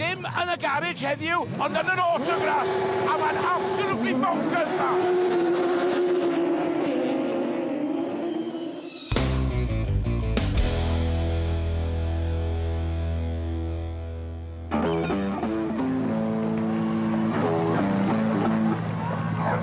Dim yn y garej heddiw, ond yn yr Autograph, a mae'n absolutely bonkers ma!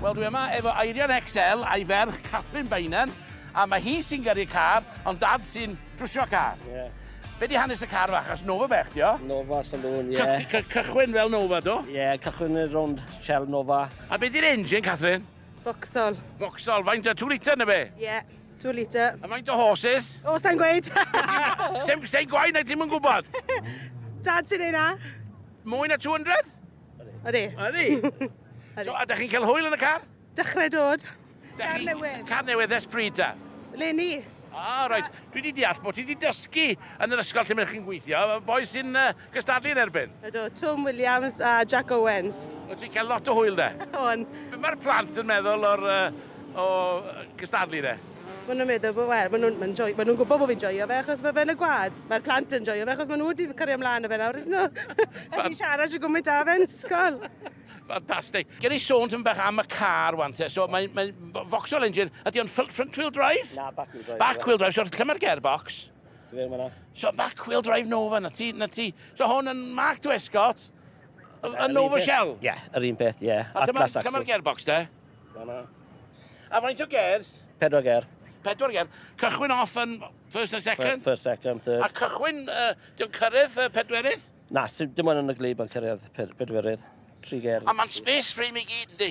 Wel, dwi yma efo Eirian XL a'i ferch, Catherine Beynon, a mae hi sy'n gyrru car, ond dad sy'n trwsio car. Ie. Be di hanes y car fach? Achos Nova bech di o? Nova Saloon, ie. Cyth- cy- cychwyn fel Nova, do? Ie, cychwyn yn rownd Shell Nova. A be di'r engine, Catherine? Foxol. Foxol, faint o 2 litre na fe? Ie, yeah, 2 litre. A faint o horses? O, oh, sa'n gweud. Sa'n sa gwain na ti'n mwyn gwybod? Dad sy'n ei na. Mwy na 200? Ydy. Ydy? so, a da chi'n cael hwyl yn y car? Dechrau dod. Car newydd. Car newydd, ers pryd da? Lenny. Ah, rhaid. Dwi wedi deall bod ti wedi dysgu yn yr ysgol lle mae'n chi'n gweithio. Boi sy'n uh, Cystadlu yn erbyn? Ydw, Twm Williams a Jac Owens. Wyt ti'n cael lot o hwyl 'de? O'n. Be mae'r plant yn meddwl o'r yy o yy cystadlu 'de? Maen nhw'n meddwl bo- wel maen nhw'n maen nhw'n joio maen nhw'n gwybod bo' fi'n joio fe achos ma' fe yn y gwaed. Mae'r plant yn joio fe achos maen nhw wedi cario mlaen â fe nawr ydyn nhw? Allen i siarad shwt gwmint â fe yn ysgol! Fantastic. Gewn ni sôn tipyn bach am y car 'wan te. So mae mae Vauxhall engine, ydy o'n ffyl- front wheel drive? Na, back wheel drive. Back wheel drive, so lle mae'r gearbox? So back wheel drive Nova, na ti, na ti. So hwn yn Mark Dwescott, yn Nova Shell? Ie, yeah, yr un peth, ie. Yeah. A dyma'r dyma gearbox de? Dyma. A faint o gers? Pedwar ger. Pedwar ger. Cychwyn off yn first and second? First, second, third. A cychwyn, uh, diw'n cyrraedd uh, pedwerydd? Na, dim ond yn y glib yn cyrraedd pedwerydd. Tri ger. A mae'n space frame i gyd, di?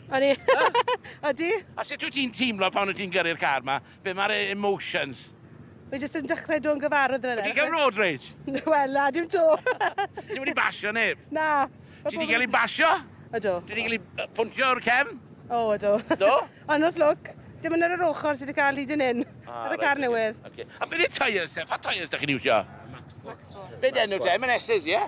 O'n i. O ti? A sut wyt ti'n teimlo pan wyt ti'n gyrru'r car ma? Be mae'r e- emotions? Mae jyst yn dechrau do'n gyfarwydd fan hyn. Ti'n cael road rage? Wel, na, dim to. Ti wedi basio neb? Na. Ti wedi cael ei basio? Ydw. Ti wedi cael ei pwntio o'r cefn? O, ydw. Do? Ond wrth lwc, dim ond ar yr ochr sydd wedi cael hyd yn hyn. Ah, ar y car newydd. Okay. A beth yw'r tyres? Pa tyres da chi'n iwsio? Max Force. Beth enw te? Mae'n S's, ie? Yeah?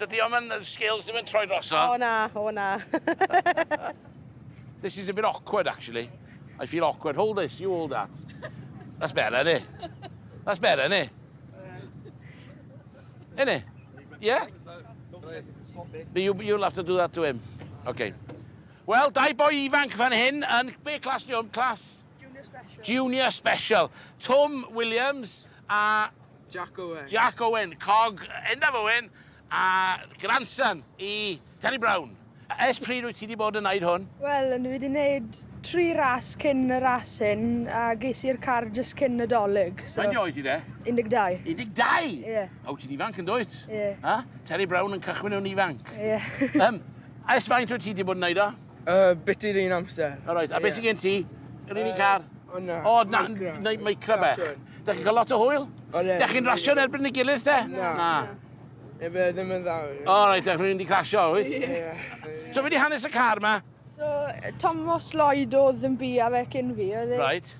Dydy o'm yn scales ddim yn troi drosodd. O na, o na. This is a bit awkward actually. I feel awkward. Hold this, you hold that. That's better, innit? That's better, innit? Innit? Yeah? But you, you'll have to do that to him. Okay. Wel, dau boi ifanc fan hyn yn... Be clas di o'n clas? Junior Special. Junior Special. Tom Williams a Jack Owen. Jack Owen, cog enfawr Owen, a grandson i Terry Brown. Ers pryd wyt ti wedi bod yn wneud hwn? Wel, dwi wedi wneud tri ras cyn y ras hyn, a ges i'r car jyst cyn Nadolig. So... Faint oed ti de? 12. 12? Ie. Yeah. O, ti'n ifanc yn dwyt? Ie. Yeah. Ha? Terry Brown yn cychwyn o'n ifanc? Ie. Yeah. um, ers faint wyt ti wedi bod yn wneud o? Uh, bit yr un amser. O, right. A yeah. beth sy'n gen ti? Yr un uh, car? O, na. O, na, na, micro bech. Da chi'n cael lot o hwyl? O, le. Da chi'n rasio yn erbyn y gilydd, te? Na. na. Neu fe ddim yn dda. O, right, da chi'n mynd i crasio, oes? Yeah. So, fe di hanes y car ma? So, Thomas Lloyd oedd yn bu a fe cyn fi, oedd e? Right.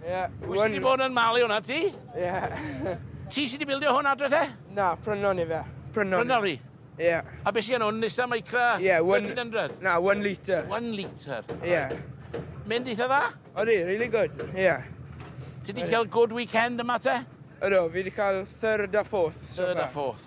Ie. Pwy sydd wedi bod yn malu hwnna, ti? Ie. Ti sydd wedi bildio hwn adre te? Na, prynon i fe. Prynon. Prynon fi? Ie. A beth sydd yn hwn? Nissan Micra? Ie. 1300? Na, 1 litre. 1 litre? Ie. Mynd eitha dda? Odi, really good. Ie. Ti wedi cael good weekend yma te? Ydw, fi wedi cael third a fourth. Third a fourth.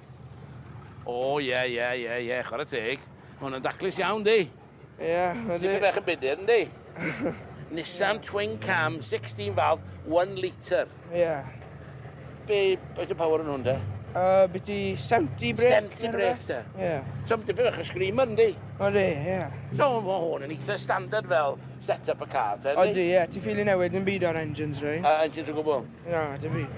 O ie ie ie ie, chwarae teg. Mae hwn yn daclus iawn, di? Ie, ydy. Dipyn bach yn budur, yndi? Nissan Twin Cam, 16 valve, 1 litre. Ie. Be, beth y power yn hwn, de? Uh, byti 70 brec. 70 brec, de? Ie. So, dipyn bach yn screamer, yndi? Ydy, ie. So, mae hwn yn eitha standard fel set-up y car, te, yndi? Ydy, ie. Ti ffili newid yn byd o'r engines, rei? Uh, engines o gwbl? Na, dim byd.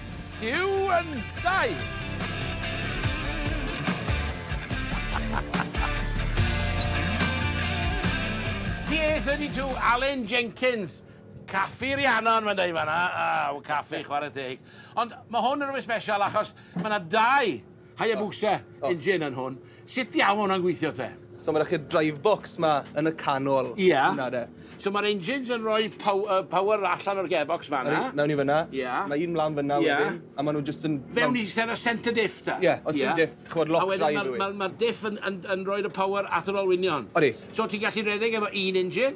Huw yn dau! TA32 Alun Jenkins! Caffi Rhiannon mae'n dweud fanna, aw, caffi, chwarae teg. Ond mae hwn yn rhywbeth special achos mae 'na dau Hayabusa engine yn hwn. Sut diawl hwnna'n gweithio te? So mae'n rhaid drive box ma yn y canol. Ie. Yeah. So mae'r engines yn rhoi pow uh, power allan o'r gearbox fanna. Right, mewn i fyna. Ie. Yeah. Mae un mlaen fyna yeah. wedyn. A maen nhw just yn... Fewn i ser y centre diff ta? Ie, yeah, os yeah. diff, chwod lock drive yw. A wedyn mae'r ma, ma diff yn, yn, yn, yn rhoi'r power at yr olwynion. Odi. So ti'n gallu redeg efo un engine?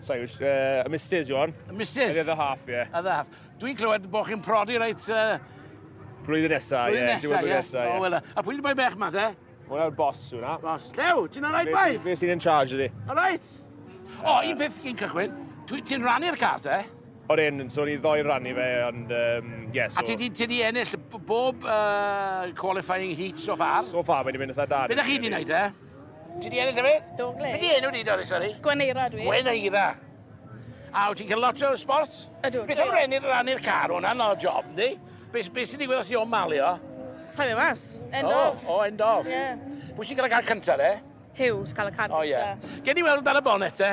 So, uh, a Mrs yw hwn. A Mrs? The other half, yeah. Other half. Dwi'n clywed bod chi'n prodi reit... Uh... Blwyddyn nesaf, ie. Blwyddyn nesaf, ie. Nesaf, oh, well, a pwy di boi bech ma, te? Hwna'r boss hwnna. Boss. Llew, ti'n alright, bai? Fe sy'n in charge ydi. Alright. O, oh, un peth cyn cychwyn. Ti'n rannu'r car, te? O'r un, so ni ddoi rannu fe, ond, um, yeah, so... A ti di, ti di ennill bob uh, qualifying heat so far? So far, mae wedi mynd eitha da. Beth ydych chi di wneud, e? Ti di ennill efyd? Do, ble? Be di enw di, Doris, sori? Gweneira dwi. Gweneira. A wyt ti'n cael lot o sports? Ydw. Beth am rhennu'r ran i'r car? Hwna'n o job, yndi? Beth be sy'n digwydd os i o'n malio? Taim e mas. End oh, off. O, oh, end off. Ie. Yeah. Pwy sy'n cael y car cyntaf, de? Hugh sy'n cael y car cyntaf. O, ie. Gen i weld dan y bonet, te?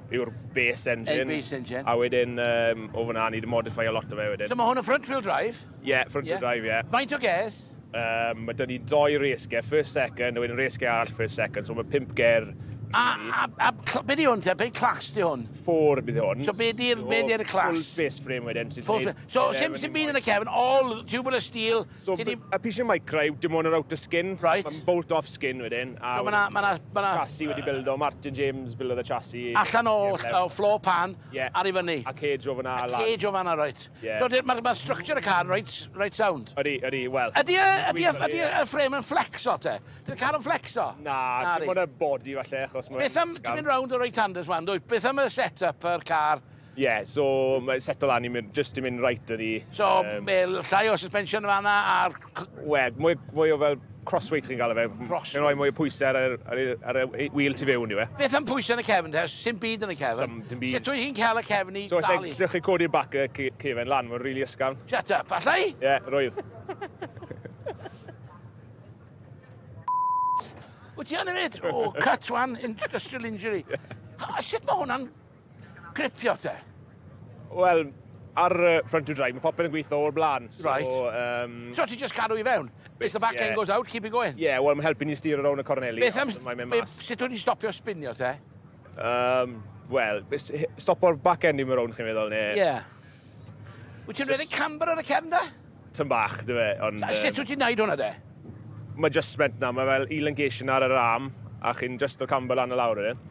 yw'r base engine. base engine. A wedyn, um, o fyna, ni wedi modify a lot o fe wedyn. So mae hwn yn front wheel drive? Ie, yeah, front wheel yeah. drive, ie. Yeah. Faint o ges? Um, mae dyn ni doi race gear, first second, a wedyn race gear arall first second, so mae pimp ger A, a, a cl- be di hwn te? Be clas di hwn? Ffôr bydd hwn. So be di'r be di'r clas? Full space frame wedyn. Full space. So sim sim byd yn y cefn, all tubular steel, So, Ti di- y piece of micra yw dim ond yr outer skin. Right. Mae'n bolt off skin wedyn. a So, ma' 'na- ma' 'na- ma' 'na- Chassis wedi bildo, Martin James bildodd y chassis. Allan o o floor pan Ie. ar i fyny. A cage o fan'na lan. Cage o fan'na reit. Ie. So de- ma' ma' structure y car reit reit sound. Ydi, ydi, wel... Ydi y ydi y ydi y frame yn flexo te? Ydi'r car yn flexo? Na, dim ond y body falle achos mae'n... Beth am, ti'n mynd rownd y right-handers wan dwyt, beth am y set-up yr car? Ie, so mae'n setlo lan i mynd, just i mynd right ydi. So, um, llai o suspension yn fanna a'r... Wel, mwy, mwy o fel crossweight chi'n gael e fe. Crossweight. Mae'n rhoi mwy o pwysau ar, ar, ar, ar y wheel tu fewn i fe. Beth am pwysau yn y cefn te? Sim byd yn y cefn. Sim dim byd. Sut wyt ti'n cael y cefn i so, dalu? So, lle chi codi'r bac y cefn lan, mae'n rili really ysgafn. Shut up, allai? Ie, yeah, roedd. Wyt ti yn hefyd? O, cut one, industrial injury. A sut mae hwnna'n Gripio te? Wel, ar uh, front to drive, mae popeth yn gweithio o'r blaen. So, right. Um, so ti just cadw i fewn? If the back yeah. end goes out, keep it going? Yeah, wel, mae'n helpu ni styr o rawn y corneli. Beth am... Sut o'n i'n stopio spinio te? Um, Wel, stopo'r back end i mi rawn chi'n meddwl, neu... Yeah. Wyt ti'n rhedeg camber ar y cefn da? Tyn bach, dwi fe, ond... A sut wyt ti'n neud hwnna de? Mae just meant na, mae fel elongation ar yr arm, a chi'n just o camber lan y lawr wedyn.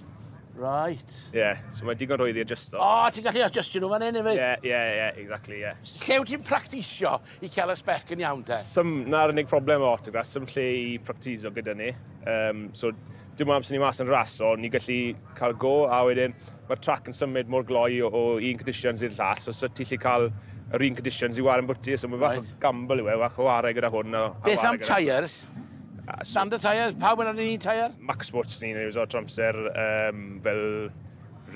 Right. Ie, yeah, so mae digon rhwydd i adjusto. O, oh, ti'n gallu adjustio nhw fan hyn efo? Ie, yeah, ie, yeah, ie, yeah, exactly, ie. Yeah. Lle wyt ti'n practisio i cael y spec yn iawn te? Sym, na'r unig problem o autographs, sym lle i practisio gyda ni. Um, so, Dim ond amser ni mas yn ras, so ni gallu cael go, a wedyn mae'r trac yn symud mor gloi o, o un conditions i'r llall, so sut ti lli cael yr un conditions i war yn bwti, so mae'n fach right. o gamble yw e, fach o warai gyda hwn. A, a Beth am tyres? Standard tyres, pawb yn yr un tyres? Max Sports ni'n ei wneud o'r tramser, um, fel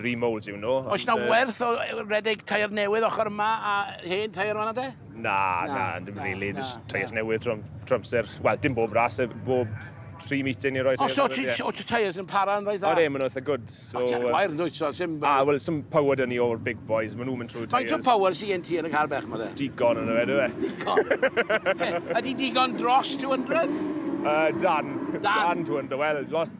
remold yw nhw. Oes na werth o redeg tair newydd ochr yma a hen tair yma na de? Na, na, na dim na, really. Na, Just tyres newydd trwy amser. Wel, dim bob ras, bob tri meeting i roi tyres. O, so ti tyres yn para yn rhoi dda? O'r e, maen nhw'n eitha good. So, o, ti'n wair yn dweud, so sy'n... A, wel, sy'n power dyn ni o'r big boys, maen nhw'n mynd trwy tyres. Mae'n power sy'n gen ti yn y car bech ma dde? Digon yn y fe, dwi fe. Digon. Ydy digon dros 200? Uh, dan. Dan. Dan 200, wel, lot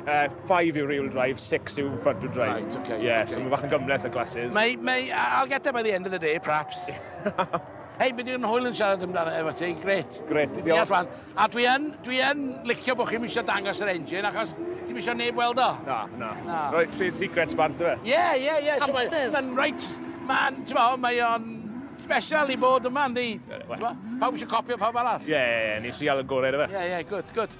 Uh, five yw real drive, six yw front wheel drive. Right, okay. Yeah, okay. so mae bach yn gymleth y glasses. Mae, mae, I'll get there by the end of the day, perhaps. Hei, bydd i'n hwyl yn siarad amdano efo ti, gret. Gret, diolch. A dwi yn, dwi yn licio bod chi'n eisiau dangos yr engine, achos ti'n eisiau neb weld o. Na, na. na. Roedd trade secrets bant, dwi? Ie, ie, ie. Hamsters. Mae'n reit, mae'n, ti'n mo, mae o'n special i bod yma, ynddi? Pawb eisiau copio pawb arall? Ie, ie, ie, ni'n sial y gorau, dwi? Ie, ie, gwrdd, gwrdd.